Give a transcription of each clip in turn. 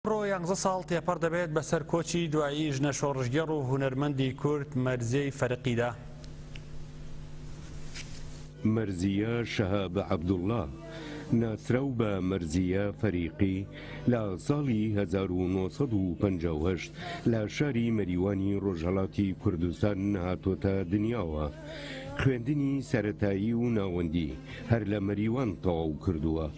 ئەمڕۆ یانزە ساڵ تێپەڕ دەبێت بەسەر کۆچی دوایی ژنە شۆڕشگێڕ و هونەرمەندی کورد مەرزیەی فەرقیدا. مەرزیە شەهاب عەبدوڵا، ناسراو بە مەرزیە فەریقی، لە ساڵی هەزار و نۆ سەد و پەنجا و هەشت لە شاری مەریوانی ڕۆژهەڵاتی کوردستان هاتۆتە دنیاوە. خوێندنی سەرەتایی و ناوەندی هەر لە مەریوان تەواو کردووە.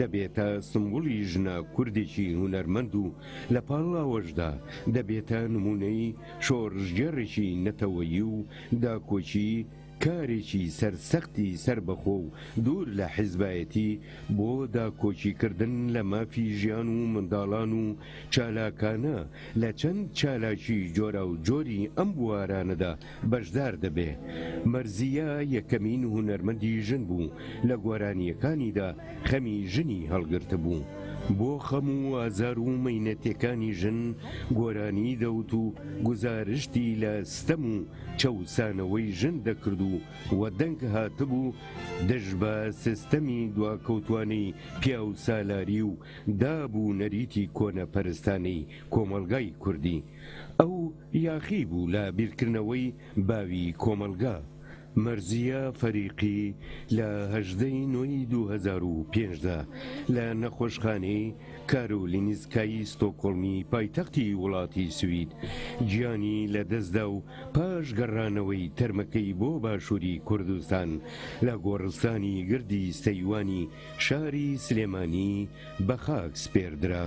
دەبێتە سمبولی ژنە کوردێکی هونەرمەند و لە پاڵاوەشدا دەبێتە نمونەی شۆڕشگێڕێکی نەتەوەیی و داکۆکی کارێکی سەرسەختی سەربەخۆ و دوور لە حیزبایەتی بۆ داکۆکی کردن لە مافی ژیان و منداڵان و چالاکانە لە چەند چالاکی جۆراوجۆری ئەم بوارانەدا بەشدار دەبێ. مەرزیە یەکەمین هونەرمەندی ژن بوو لە گۆرانیەکانیدا خەمی ژنی هەڵگرتبوو. بۆ خەم و ئازار و مەینەتێکانی ژن گۆرانی دەوت و گوزارشتی لە ستەم و چەوسانەوەی ژن دەکرد و وە دەنگ هاتبوو دژ بە سستەمی دواکەوتوانەی پیاوسالاری و داب و نەریتی کۆنەپەرستانەی کۆمەڵگای کوردی ئەو یاخی بوو لە بیرکردنەوەی باوی کۆمەڵگا، مەرزیە فەریقی لە هەژدە ی نۆ ی دوو هەزار و پێنج دا لە نەخۆشخانەی کارۆلینسکای ستۆکۆڵمی پایتەختی وڵاتی سوید گیانی لە دەستدا و پاش گەڕانەوەی تەرمەکەی بۆ باشوری کوردستان لە گۆڕستانی گردی سەیوانی شاری سلێمانی بە خاک سپێردرا.